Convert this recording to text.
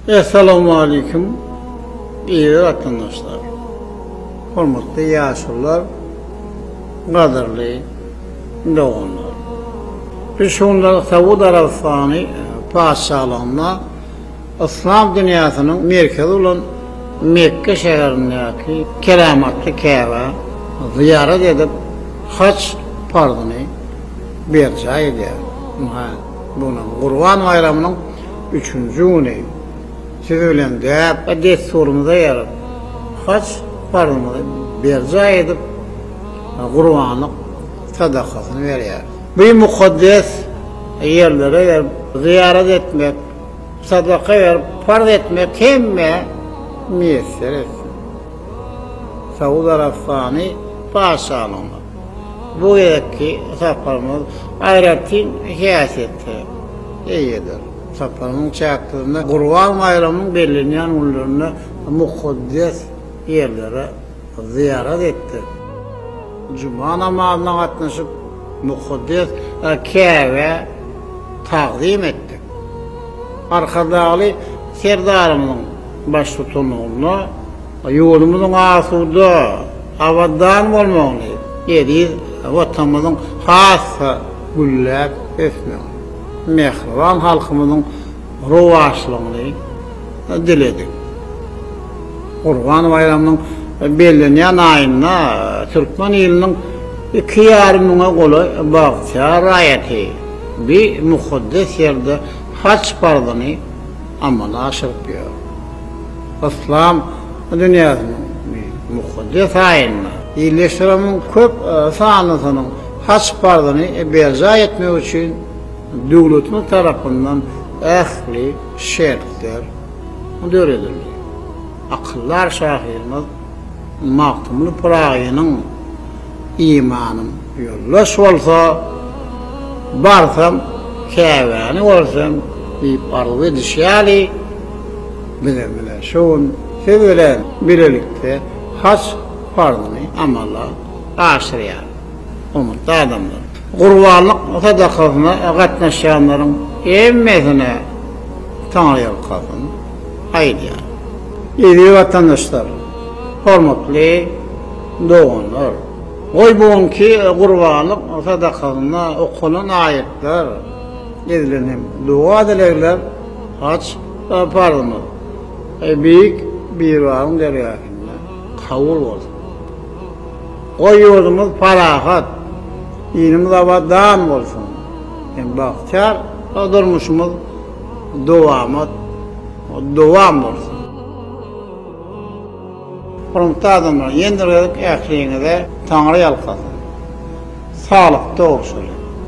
Essalamualeýkum eziz watandaşlar, hormatly ýaşulylar, gadyrly doganlar. Biz şu günler Saud Arabystany patyşalygynda yslam dünýäsiniň merkezi bolan Mekge şäherindäki keramatly Käbä zyýarat edip, haç parzyny berjaý edýäris. Munuň Gurban baýramynyň üçünji güni siz bilen däp we dessurymyza eýerip, haç parzymyzy berjaý edip, gurbanlyk sadakasyny berýäris. Bu mukaddes ýerlere berip, zyýarat etmek, sadaka berip, parz etmek hemmä miýesser etsin. Saud Arabystany Patyşalygyna. Bu gezekki saparymyz aýratyn häsiýete eýedir. Saparymyň çäklerinde Gurban baýramynyň bellenýän günlerinde mukaddes ýerlere zyýarat etdik. Juma namazyna gatnaşyp, mukaddes Käbä tagzym etdik. Arkadagly Serdarymyzyň baştutanlygynda Ýurdumyzyň asuda, abadan bolmagyny, eziz Watanymyzyň has-da gülläp ösmegini, mähriban halkymyzyň rowaçlygyny diledik. Gurban baýramynyň bellenýän aýynda türkmen iliniň iki ýarym müňe golaý bagtyýar raýaty bi mukaddes ýerde haç parzyny, amala aşyryp ýör. Yslam dünýäsiniň mukaddes aýynda ildeşlerimiziň köp sanlysynyň haç parzyny berjaý etmek üçin döwletimiz tarapyndan ähli şertler döredildi. Akyldar şahyrymyz. Magtymguly Pyragynyň Imanym ýoldaş bolsa, barsam Käbäni görsem diýip arzuw edişi ýaly, bizem ine şu gün siz bilen bilelikde haç parzyny amala aşyrýarys. Hormatly adamlar! Gurbanlyk sadakasyna gatnaşýanlaryň hemmesine Taňryýalkasyn! aýdýar. Eziz watandaşlar, hormatly doganlar! Goý bu günki gurbanlyk sadakasynda okalan aýatlar, edilen hem doga-dilegler Haj parzymyz Beýik Biribaryň dergähinde kabul bolsun! Goý ýurdumyz parahat, ilimiz abadan bolsun hem bagtyýar durmuşymyz Dowamat dowam bolsun. Hormatly adamlar ýendirgedik ähliňize Taňry ýalkasyn. Saglykda bolşuly.